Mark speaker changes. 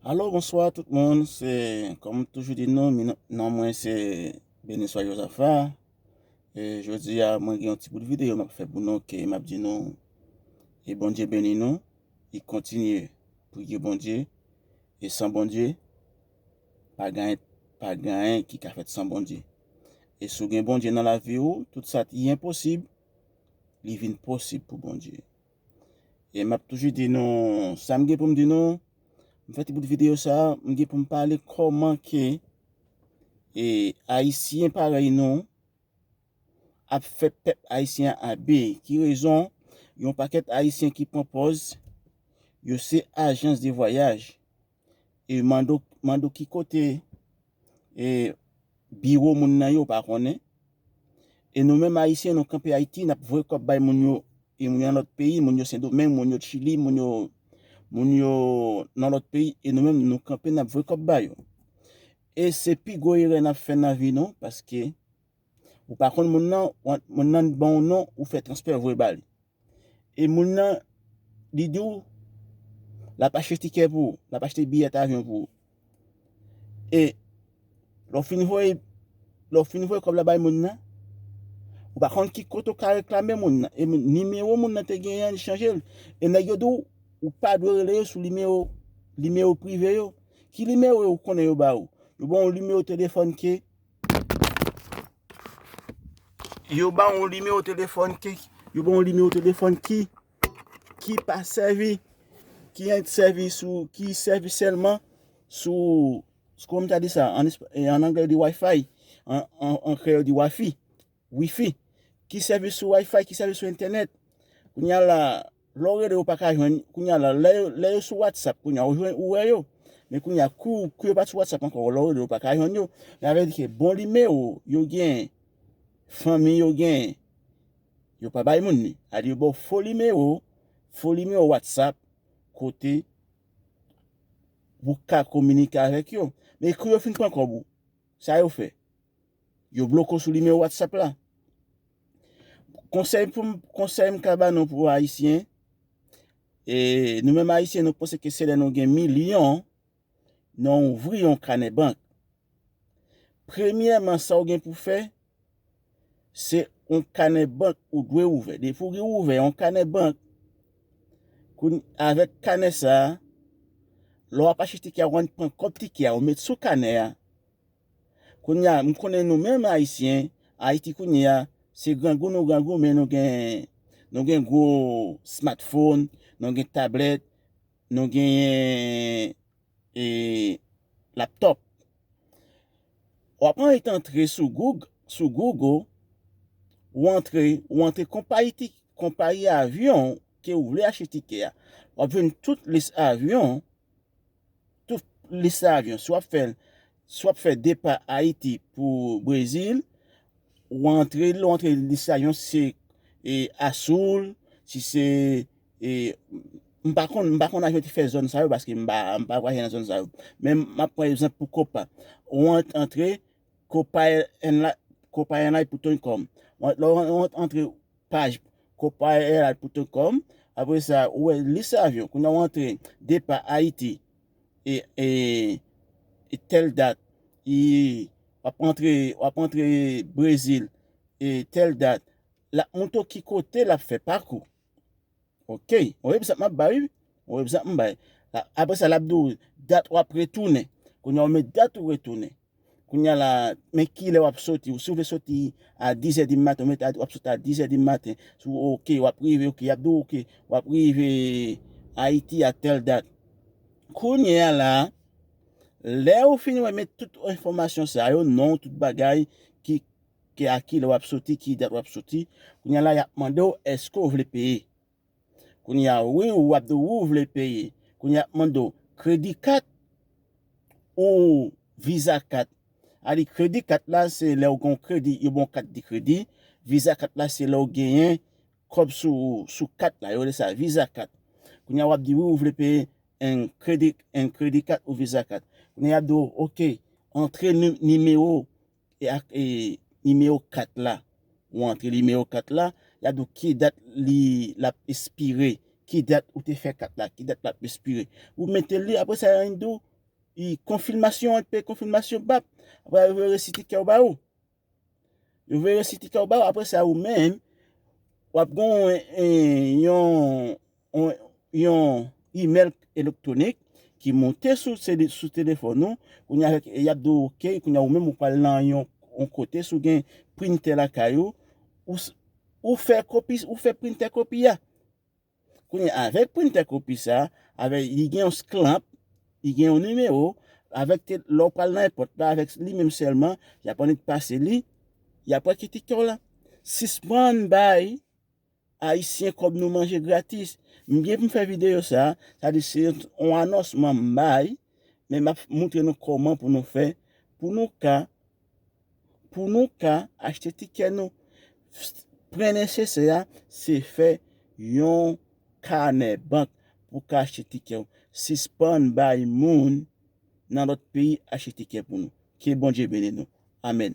Speaker 1: Alo, bonswa tout moun, se kòm m toujou di nou, non mwen se Beniswa Jozafa, e jodi a mwen gen yon ti bout videyo m ap fè pou nou ke m ap di nou e Bondye beni nou, e kontinye priye Bondye, e san Bondye pa gen anyen, pa gen anyen ki ka fèt san Bondye. E si w gen Bondye nan lavi ou, tout sa ki enposib, li vin posib pou Bondye. E map toujou di nou sa m gen pou m di nou, m fè ti bout videyo sa, m gen pou m pale kòman ke e ayisyen parèy nou ap fè pèp ayisyen an abe, ki rezon yon pakèt ayisyen ki pran pòz yo se ajans de vwayaj e mande w ki kote e biwo moun nan yo pa konnen e nou menm ayisyen nou kanpe ayiti nap voye kòb bay moun yo e moun yo nan lòt peyi moun yo sendomeng moun yo chili moun yo moun yo nan lòt peyi e nou menm nou kanpe nap voye kòb ba yo e se pi gwo erè nap fè nan vi nou paske Ou pa konn moun nan, moun nan t banw non ou fè transfè voye ba li. E moun nan li diw lap achte tikè pou ou, lap achte biyèt avyon pou ou. E lè w fin voye, lè w fin voye kòb la bay moun nan, ou pa konn ki kote ou ka reklame moun nan. E nimewo moun nan te genyen an li chanje l. E nèg yo diw ou pa dwe rele yo sou nimewo, nimewo prive yo. Ki nimewo yo ou konnen yo ba ou? Yo banw nimewo telefòn ke. Yo ba ou nimewo telefòn ki, yo ba ou nimewo telefòn ki, ki pa sèvi, ki ent sèvi sou, ki sèvi sèlman sou, sou kòm ta di sa, an anglè yo di wifi, an kreyòl yo di wafi. Wifi, ki sèvis sou Wi-Fi, ki sèvis sou entènèt. Kounye a la, lè w rele yo pa ka jwenn, kounye a la, lè yo sou WhatsApp, kounye a ou jwenn ou wè yo. Men kounye a kou yo pa t sou WhatsApp ankò, lè w rele yo pa ka jwenn yo. Men avè di ke bon nimewo yo gen, fanmi yo gen, yo pa bay moun li. A di yo ba w fo nimewo, fo nimewo WhatsApp kote pou w ka kominike avèk yo. Men kou yo fin pran kòb ou, sa yo fè? Yo bloke w sou nimewo WhatsApp la. Konsèy pou m, konsèy m ka ba nou pou ayisyen, e nou menm ayisyen nou panse ke se lè nou gen milyon nan ouvri yon kanè bank. Premyèman sa w gen pou fè, se yon kanè bank ou dwe ouvè. Depi w gen ouvè yon kanè bank, avèk kanè sa, lè w ap achte tike a, w annik pran kòb tike a, ou met sou kanè a. Kounya m konnen nou menm ayisyen, Ayiti kounye a, se grangou nou grangou men nou gen nou gen gwo smatfon, nou gen tablèt, nou genyen e laptòp. W ap an et antre sou goug sou gougo, ou antre ou antre konpayi ti konpayi avyon ke ou vle achte tikè a. W ap jwenn tout lis avyon tout lis avyon si wap fèl si wap fè depa ayiti pou brezil ou antre lè ou antre lis avyon si se e asoul si se e m pa konn m pa konn avyon ki fè zòn sa yo paske m pa m pa vwayaje nan zòn sa yo men map pran egzanp pou kopa ou antre kopa èn la kopa èn la pou ton kòm lè ou antre Paj Copairad.com Apre sa, ou wè lis avyon. Kounye a ou antre depa Ayiti e tèl dat. E w ap antre Brezil e tèl dat. L ap montre w ki kote l ap fè pakou. Ok on egzanp map bay wi on egzanp m bay apre sa lap di w dat wap retounen kounya ou met dat ou retounen kounya la men kilè wap soti si w vle soti a 10 è di maten ou met wap soti a 10 è di maten sou ok wap rive ok yap di w ok wap rive Ayiti a tèl dat kounya la lè ou fin wè met tout enfòmasyon sa yo non tout bagay ki ke a kilè wap soti ki dat wap soti kounye a la yap mande w eske w vle peye kounye a wi wap di wou vle peye kounye a yap mande w kredi kat ou viza kat a li kredi kat la se lè ou gen yon kredi yo ban w kat de kredi viza kat la se lè ou genyen kòb sou ou sou kat la yo rele sa viza kat kounye a wap di wi ou vle peye en kredi en kredi kat ou viza kat kounye a yap di w ok antre nimewo e ak e nimewo kat la ou antre nimewo kat la yap di w ki dat li lap espire ki dat ou te fè kat la ki dat lap espire ou mete li apre sa yap di w i konfilmasyon an pe konfilmasyon bap apre sa yo veye resi ti kè yo ba ou yo veye resi ti kè yo ba ou apre sa ou menm wap gon yon yon imèl elektwonik ki monte sou sou telefòn ou, kounye avèk y ap di w ok, kounye ou menm ou pral nan yon kote sou gen printè lakay ou, ou fè kopi, ou fè printè kopi a. Kounye avèk printè kopi sa, avèk li gen yon sklanp, li gen yon nimewo, avèk ke lè ou pral nan èpòt la avèk li menm sèlman, y ap annik pase li, y ap wè ki tikè w la. Sispann bay. Ayisyen kòb nou manje gratis. M gen pou m fè videyo sa, sa di se yon anonsman m bay, men m ap moutre nou kòman pou nou fè, pou nou ka, pou nou ka achte tikè nou. Prè nesesè a, se fè yon kanè bank pou ka achte tikè ou. Sispann bay moun nan lòt peyi achte tikè pou nou. Ke Bondye beni nou. Amèn.